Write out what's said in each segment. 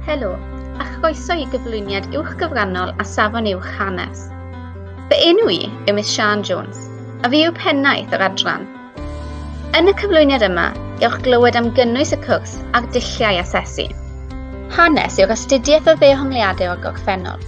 Helo, a chroeso i gyflwyniad uwch gyfrannol a safon uwch hanes. Fy enw i yw Miss Sian Jones, a fi yw pennaeth yr adran. Yn y cyflwyniad yma, gewch glywed am gynnwys y cwrs a'r dulliau asesu. Hanes yw'r astudiaeth o ddehongliadau o'r gorffennol.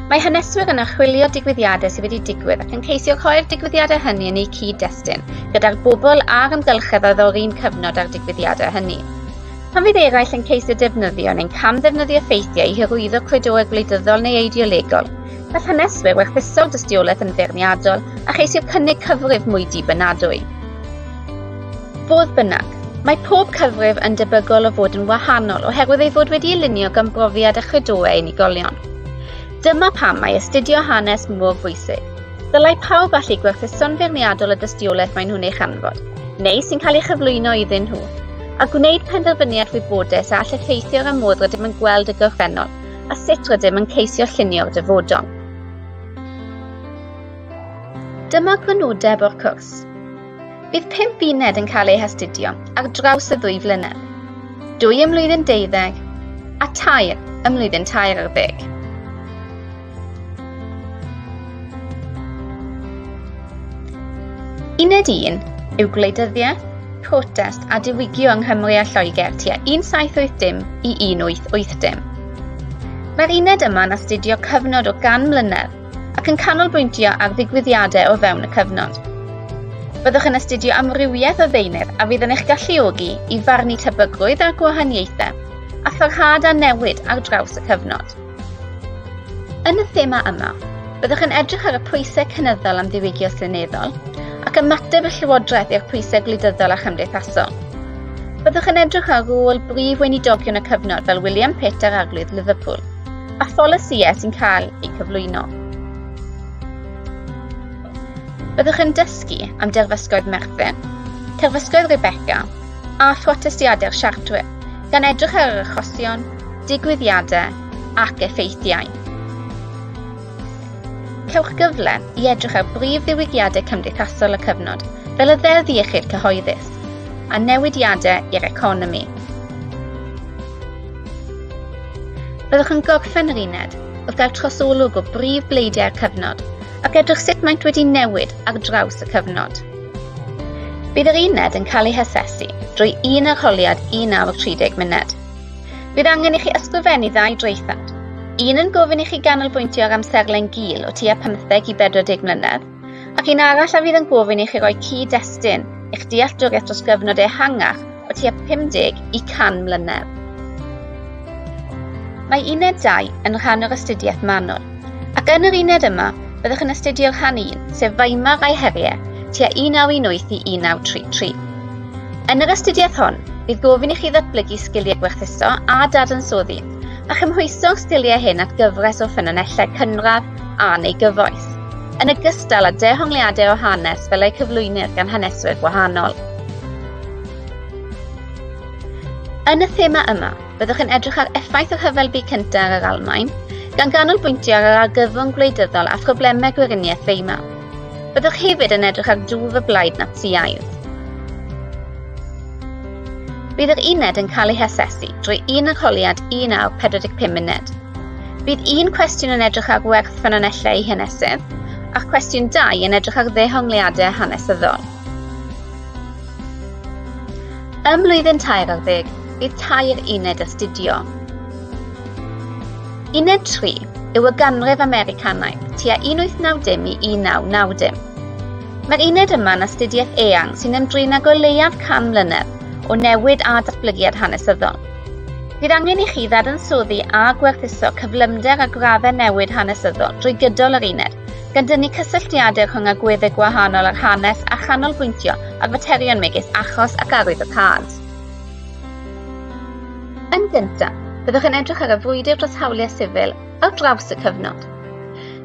Mae haneswyr yn archwilio digwyddiadau sydd wedi digwydd ac yn ceisio rhoi'r digwyddiadau hynny yn eu cyd-destun gyda'r bobl a'r ymgylchedd oedd o'r un cyfnod â'r digwyddiadau hynny. Pan fydd eraill yn ceisio defnyddio neu'n cam-ddefnyddio ffeithiau i hyrwyddo cludoau gwleidyddol neu eideolegol, gall haneswyr werthuso dystiolaeth yn feirniadol a cheisio cynnig cyfrif mwy dibynadwy. Fodd bynnag, mae pob cyfrif yn debygol o fod yn wahanol oherwydd ei fod wedi'i lunio gan brofiad a chludoau unigolion. Dyma pam mae astudio hanes mor bwysig. Dylai pawb allu gwerthuso'n feirniadol y dystiolaeth maen nhw'n ei chanfod, neu sy'n cael ei chyflwyno iddyn nhw, a gwneud penderfyniad wybodus a all effeithio ar y modd rydym yn gweld y gorffennol a sut rydym yn ceisio llunio'r dyfodol. Dyma grynodeb o'r cwrs. Bydd pimp uned yn cael eu hastudio ar draws y ddwy flynedd, dwy ymlwyddyn deuddeg a tair ymlwyddyn tair ar ddeg. Uned 1 yw gwleidyddiaeth, protest a diwygio yng Nghymru a Lloegr tua 1780 i 1880. Mae'r uned yma'n astudio cyfnod o gan mlynedd ac yn canolbwyntio ar ddigwyddiadau o fewn y cyfnod. Byddwch yn astudio amrywiaeth o ddeunydd a fydd yn eich galluogi i farnu tebygrwydd a'r gwahaniaethau a pharhad a newid ar draws y cyfnod. Yn y thema yma, byddwch yn edrych ar y pwysau cynyddol am ddiwygio seneddol ac ymateb y Llywodraeth i'r pwysau gwleidyddol a chymdeithasol. Byddwch yn edrych ar rôl brif weinidogion y cyfnod fel William Pitt a'r Arglwydd Liverpool, a pholisïau sy'n cael eu cyflwyno. Byddwch yn dysgu am derfysgoedd Merthyr, terfysgoedd Rebecca a phrotestiadau'r Siartrwydd, gan edrych ar yr achosion, digwyddiadau ac effeithiau. Cewch gyfle i edrych ar brif ddiwygiadau cymdeithasol y cyfnod, fel y ddeddf iechyd cyhoeddus, a newidiadau i'r economi. Byddwch yn gorffen yr uned wrth gael trosolwg o brif bleidiau'r cyfnod ac edrych sut maent wedi newid ar draws y cyfnod. Bydd yr uned yn cael ei hasesu drwy un arholiad 1 awr 30 munud. Bydd angen i chi ysgrifennu ddau draethawd, un yn gofyn i chi ganolbwyntio ar amserlen gul o tua 15 i 40 mlynedd, ac un arall a fydd yn gofyn i chi roi cyd-destun eich dealltwriaeth dros gyfnod ehangach o tua 50 i 100 mlynedd. Mae uned 2 yn rhan o'r astudiaeth manwl, ac yn yr uned yma, Byddwch yn astudio rhan 1, sef Weimar a'i heriau, tua 1918 i 1933. Yn yr astudiaeth hon, bydd gofyn i chi ddatblygu sgiliau gwerthuso a dadansoddi, a chymhwyso'r sgiliau hyn at gyfres o ffynonellau cynradd a neu gyfoes, yn ogystal â dehongliadau o hanes fel eu cyflwynir gan haneswyr gwahanol. Yn y thema yma, Byddwch yn edrych ar effaith y Rhyfel Byd Cyntaf ar yr Almaen, gan ganolbwyntio ar yr argyfwng gwleidyddol a phroblemau gweriniaeth Weimar. Byddwch hefyd yn edrych ar dwf y blaid Natsïaidd. Bydd yr uned yn cael ei hasesu drwy un arholiad un awr 45 munud. Bydd un cwestiwn yn edrych ar werth ffynonellau eu hanesydd, a'r cwestiwn dau yn edrych ar ddehongliadau hanesyddol. Ym mlwyddyn tair ar ddeg, bydd tair uned astudio. Uned 3 yw y ganrif Americanaidd, tua 1890 i 1990. Mae'r uned yma'n astudiaeth eang sy'n ymdrin ag o leiaf can mlynedd o newid a datblygiad hanesyddol. Bydd angen i chi ddadansoddi a gwerthuso cyflymder a graddau newid hanesyddol drwy gydol yr uned, gan dynnu cysylltiadau rhwng agweddau gwahanol ar hanes a chanolbwyntio ar faterion megis achos ac arwyddocâd. Yn gyntaf, byddwch yn edrych ar y frwydr dros hawliau sifil ar draws y cyfnod.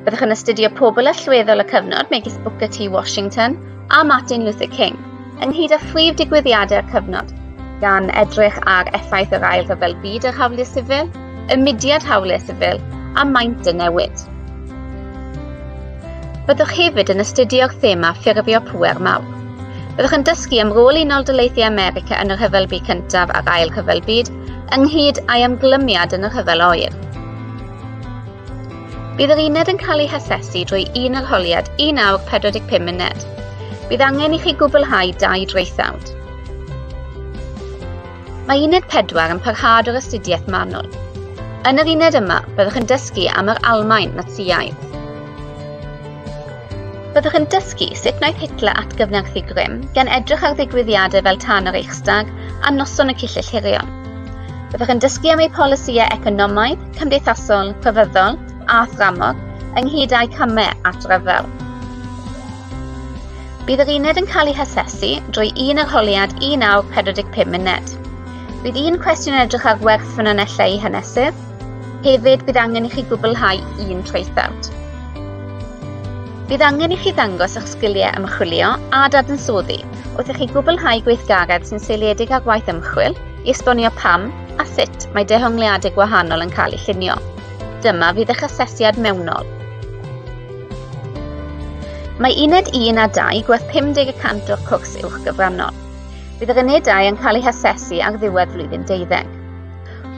Byddwch yn astudio pobl allweddol y cyfnod megis Booker T Washington a Martin Luther King, ynghyd â phrif digwyddiadau'r cyfnod, gan edrych ar effaith yr ail rhyfel byd ar hawliau sifil, y mudiad hawliau sifil a maint y newid. Byddwch hefyd yn astudio'r thema ffurfio pŵer mawr. Byddwch yn dysgu am rôl Unol Daleithiau America yn y Rhyfel Byd Cyntaf a'r Ail Rhyfel Byd, ynghyd â'i ymglymiad yn y Rhyfel Oer. Bydd yr uned yn cael ei hasesu drwy un arholiad 1 awr 45 munud. Bydd angen i chi gwblhau dau draethawd. Mae Uned 4 yn parhad o'r astudiaeth manwl. Yn yr uned yma, byddwch yn dysgu am yr Almaen Natsïaidd. Byddwch yn dysgu sut wnaeth Hitler atgyfnerthu grym gan edrych ar ddigwyddiadau fel tan yr Eichstag a noson y Cyllyll Hirion. Byddwch yn dysgu am ei polisïau economaidd, cymdeithasol, cyfyddol a thramor, ynghyd â'i camau at ryfel. Bydd yr uned yn cael ei hasesu drwy un arholiad 1945 munud. Bydd un cwestiwn yn edrych ar werth ffynonellau i hanesu. Hefyd, bydd angen i chi gwblhau un traethawd. Bydd angen i chi ddangos eich sgiliau ymchwilio a dadansoddi wrth i chi gwblhau gweithgaredd sy'n seiliedig ar waith ymchwil i esbonio pam a sut mae dehongliadau gwahanol yn cael eu llunio. Dyma fydd eich asesiad mewnol. Mae uned 1 a 2 gwerth 50 y cant o'r cwrs uwch gyfrannol. Bydd yr unedau yn cael eu hasesu ar ddiwedd flwyddyn deuddeg.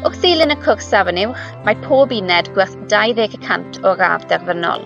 Wrth ddilyn y cwrs safon uwch, mae pob uned gwerth 20 y cant o'r radd derfynol.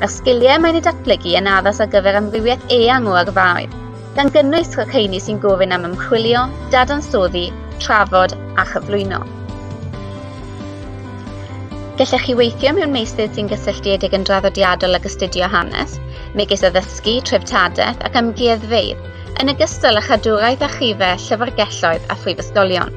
a'r sgiliau mae'n eu datblygu yn addas ar gyfer amrywiaeth eang o yrfaoedd, gan gynnwys rheini sy'n gofyn am ymchwilio, dadansoddi, trafod a chyflwyno. Gellech chi weithio mewn meysydd sy'n gysylltiedig yn draddodiadol ag astudio hanes, megis addysgu, treftadaeth ac amgueddfeydd, yn ogystal â chadwraeth a chife, llyfrgelloedd a phrifysgolion.